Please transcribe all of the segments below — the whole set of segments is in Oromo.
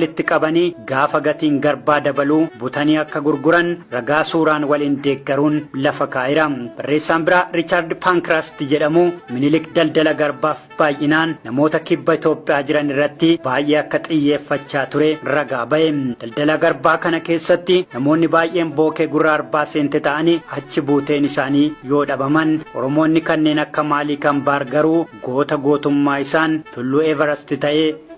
walitti qabanii gaafa gatiin garbaa dabalu butanii akka gurguran ragaa suuraan waliin deeggaruun lafa kaa'eera. Barreessaan biraa Riichaard Paankiraast jedhamu Minilik daldala garbaaf baay'inaan namoota kibba Itoophiyaa jiran irratti baay'ee akka xiyyeeffachaa ture ragaa ba'e. Daldala garbaa kana keessatti namoonni baay'een bookee gurra arbaa seente ta'anii achi buuteen isaanii yoo dhabaman Oromoonni kanneen akka Maalii Kambaar garuu goota gootummaa isaan tulluu Everast ta'ee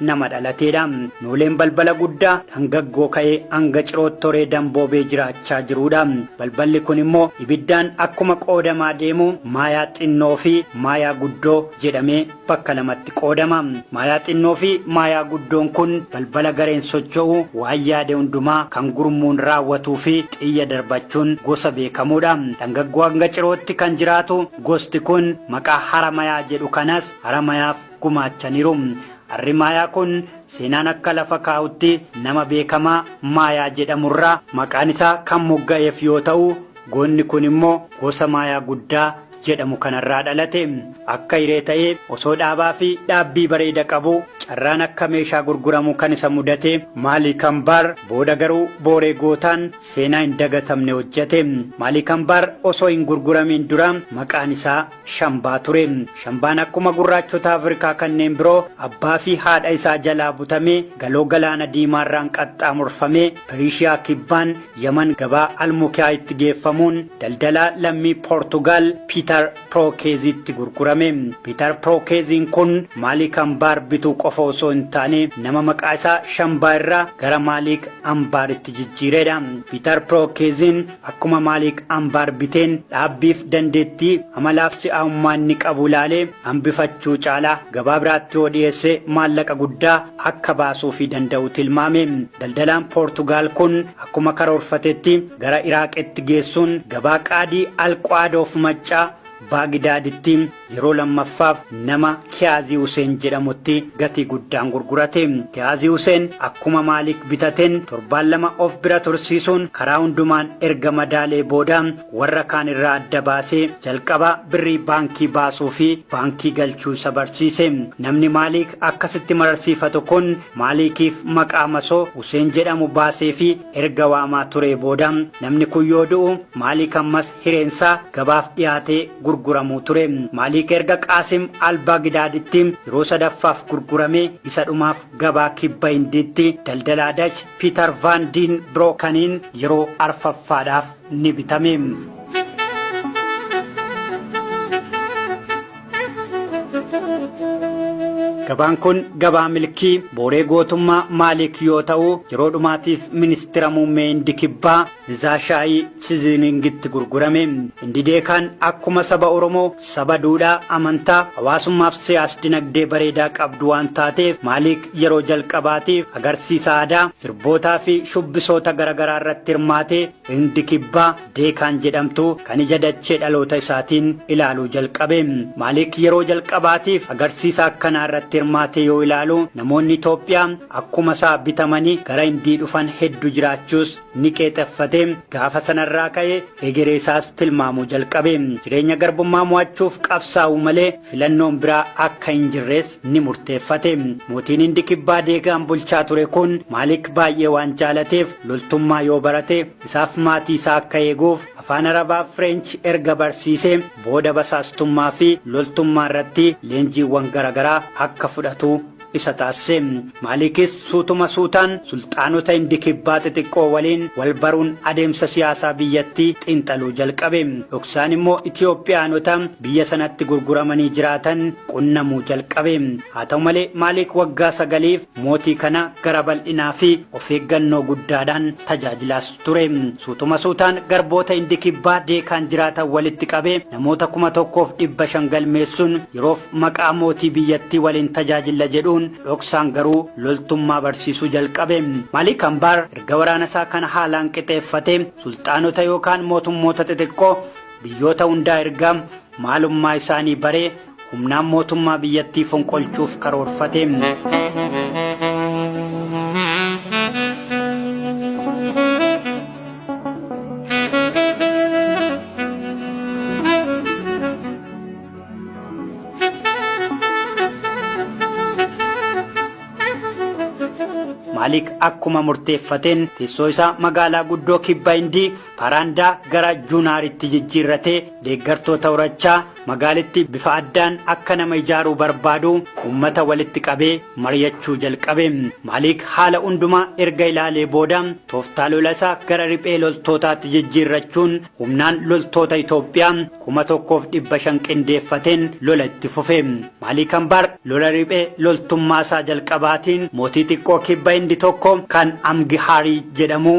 nama dhalateedha. Nooleen balbala guddaa dhangaggoo ka'ee hanga cirootti toree damboobee jiraachaa jiruudha. Balballi kun immoo ibiddaan akkuma qoodamaa deemu maayaa xinnoo fi maayaa guddoo jedhamee bakka lamatti qoodama. Maayaa xinnoo fi maayaa guddoon kun balbala gareen socho'u waan yaade hundumaa kan gurmuun raawwatuu fi xiyya darbachuun gosa beekamuudha. Dhangaggoo hanga cirootti kan jiraatu gosti kun maqaa haramayaa jedhu kanas haramayaaf gumaachaniru. Harri Maayaa kun seenaan akka lafa kaa'utti nama beekamaa Maayaa jedhamurraa maqaan isaa kan mogga'eef yoo ta'u, goonni kun immoo gosa Maayaa guddaa jedhamu kanarraa dhalate. Akka hiree ta'ee osoo dhaabaa fi dhaabbii bareeda qabu carraan akka meeshaa gurguramu kan isa mudate Maalii Kambaar booda garuu booree gootaan seenaa hin dagatamne hojjete. Maalii Kambaar osoo hin gurguramiin dura maqaan isaa Shambaa ture. Shambaan akkuma gurraachota Afrikaa kanneen biroo abbaa fi haadha isaa jalaa butamee Galoo Galaana Diimaarraan qaxxaamurfamee Piriishiyaa Kibbaan, Yaman, gabaa Al-Mukiyaayitti geeffamuun daldalaa lammii Poortugaal Piitar Pirookeeziitti gurgurame. Piitar Pirookeeziin kun Maaliik Ambaar bituu qofa osoo hin taane nama maqaa isaa Shambaa irraa gara Maaliik Ambaaritti jijjiireedha. Piitar Pirookeeziin Akkuma Maalik Ambaar biteen dhaabbiif dandeettii, amalaaf si'aawummaa inni qabu ilaalee hambifachuu caalaa gabaa biraatti yoo dhiyeesse maallaqa guddaa akka baasuufii danda'u tilmaame. Daldalaan Poortugaal kun akkuma karoorfatetti gara Iraaqitti geessuun gabaa qaadii Al-Quaad of Maccaa, Baagdaaditti, Yeroo lammaffaaf nama Kiyaazii Huseen jedhamutti gatii guddaan gurgurate. Kiyaazii Huseen akkuma Maalik bitateen torbaan lama of bira tursiisuun karaa hundumaan erga madaalee booda warra kaan irraa adda baasee jalqaba birrii baankii baasuu fi baankii galchuu isa barsiise. Namni Maalik akkasitti mararsiifatu kun Maalikiif maqaa masoo Huseen jedhamu baaseefii erga waamaa turee booda namni kun yoo du'u Maalik ammas hireen isaa gabaaf dhiyaatee gurguramuu ture. Maaliik erga Qaasim al-Baagdaaditti yeroo sadaffaaf gurguramee isa dhumaaf gabaa kibba Hindiitti daldalaa Dach Piitar Vaan Diin Brookaniin yeroo arfaffaadhaaf ni bitame. Gabaan kun gabaa milkii booree gootummaa Maaliik yoo ta'u yeroo dhumaatiif ministira muummee Hindi kibbaa Nzaa shaayii siziiningitti gurgurame. Indideekaan akkuma saba Oromoo saba duudhaa, amantaa, hawaasummaaf siyaas-dinagdee bareedaa qabdu waan taateef Maaliik yeroo jalqabaatiif agarsiisa aadaa, sirbootaa fi shubbisoota garagaraa irratti hirmaatee Hindi Kibbaa, Deekaan jedhamtu kan ija dachee dhaloota isaatiin ilaaluu jalqabe. Maaliik yeroo jalqabaatiif agarsiisa akkanaa irratti hirmaatee yoo ilaalu namoonni Itoophiyaa akkuma isaa bitamanii gara Hindii dhufan heddu jiraachuus ni qeexeffate. Gaafa sanarraa ka'ee hegeree isaas tilmaamuu jalqabe. Jireenya garbummaa mo'achuuf qabsaa'uu malee filannoon biraa akka hin jirres ni murteeffate. Mootiin Hindi Kibbaa Deegaan bulchaa ture kun Maalik baay'ee waan jaalateef loltummaa yoo barate isaaf maatii isaa akka eeguuf afaan Arabaa fi Fireenchi erga barsiisee booda basaastummaa fi loltummaa irratti leenjiiwwan garaagaraa akka fudhatu isa taasise. Maaliikis suutuma suutaan sulxaanota Hindi Kibbaa xixiqqoo waliin wal baruun adeemsa siyaasaa biyyattii xiinxaluu jalqabe. Dhoksaan immoo Itiyoophiyaanota biyya sanatti gurguramanii jiraatan qunnamuu jalqabe. Haa ta'u malee Maaliik waggaa sagaliif mootii kana gara bal'inaa fi of eeggannoo guddaadhaan tajaajilaas. ture. Suutuma suutaan garboota Hindi Kibbaa Deekaan jiraatan walitti qabee namoota 1,500 galmeessuun yeroof maqaa mootii biyyattii waliin tajaajilla jedhuun dhoksaan garuu loltummaa barsiisuu jalqabe. Maalik Ambaar erga waraana isaa kana haalaan qixeeffatee sulxaanota yookaan mootummoota xixiqqoo biyyoota hundaa ergaa maalummaa isaanii baree Humnaan mootummaa biyyattii fonqolchuuf karoorfateen Maalik akkuma murteeffateen teessoo isaa magaalaa guddoo kibba Hindii Paraandaa gara Junaaritti jijjiirratee deeggartoota horachaa Magaalittii bifa addaan akka nama ijaaruu barbaadu ummata walitti qabee mari'achuu jalqabe. Maalik haala hundumaa erga ilaalee booda tooftaa lola isaa gara riphee loltootaatti jijjiirrachuun humnaan loltoota Itoophiyaa 1,500 qindeeffateen lola itti fufe. Maalik Ambaar lola riphee loltummaa isaa jalqabaatiin mootii xiqqoo kibba Hindi tokko kan Amgihaarii jedhamu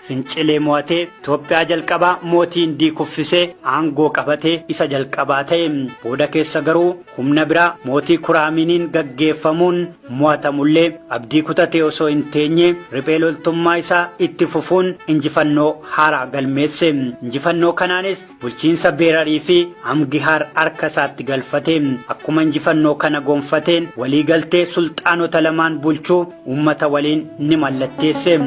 Fincilee mo'atee Itoophiyaa jalqabaa mootii Hindii kuffisee aangoo qabatee isa jalqabaa ta'e. Booda keessa garuu humna biraa mootii Kuraamiiniin gaggeeffamuun mo'atamullee abdii kutatee osoo hin teenye riphee loltummaa isaa itti fufuun injifannoo haaraa galmeesse. Injifannoo kanaanis Bulchiinsa Beerarii fi Amgihaar harka isaatti galfate. Akkuma injifannoo kana gonfateen walii galtee sulxaanota lamaan bulchuu uummata waliin ni mallatteesse.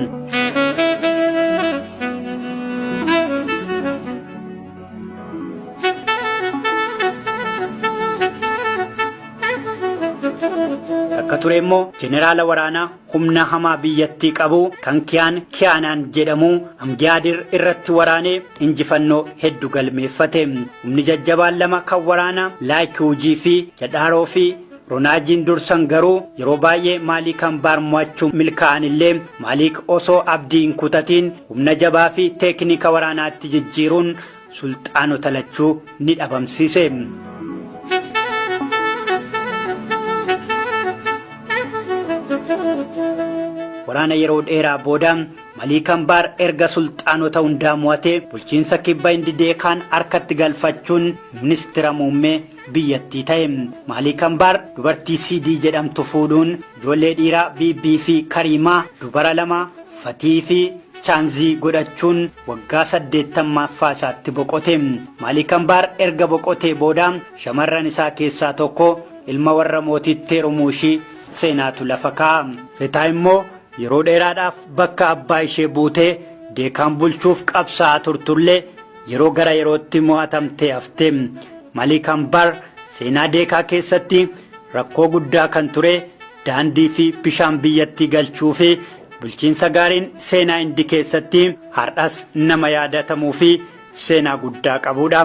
Takka ture immoo jeneraala waraanaa humna hamaa biyyattii qabu kan Kiyaan Kiyaanaan jedhamu Amgiyaadir irratti waraanee injifannoo heddu galmeeffate. Humni jajjabaan lama kan waraanaa Laayikiwujii fi Jadhaaroo fi Ronaajiin dursan garuu yeroo baay'ee Maaliik Ambaar mo'achuu milkaa'an illee Maaliik osoo abdii hin kutatiin humna jabaa fi teeknika waraanaatti jijjiiruun sulxaanota lachuu ni dhabamsiise. Waraana yeroo dheeraa booda Malii Kambaar erga sulxaanota hundaa mo'atee bulchiinsa kibba Indidee kaan harkatti galfachuun ministira muummee biyyattii ta'e. Maalik Ambaar dubartii Siidii jedhamtu fuudhuun ijoollee dhiiraa Biibbii fi Kariimaa, dubara lama, Fatihii fi Chaanzii godhachuun waggaa 80ffaa isaatti boqote. Maalik Ambaar erga boqotee booda shamarran isaa keessaa tokko ilma warra mootiitti heerumuu ishii seenaatu lafa kaa'a. Fetaa immoo yeroo dheeraadhaaf bakka abbaa ishee buutee Deekaan bulchuuf qabsaa'aa turtullee, Yeroo gara yerootti mo'atamtee hafte. Malik Ambar seenaa Deekaa keessatti rakkoo guddaa kan ture daandii fi bishaan biyyattii galchuu fi bulchiinsa gaariin seenaa Hindi keessatti har'as nama yaadatamuu fi seenaa guddaa qabuudha.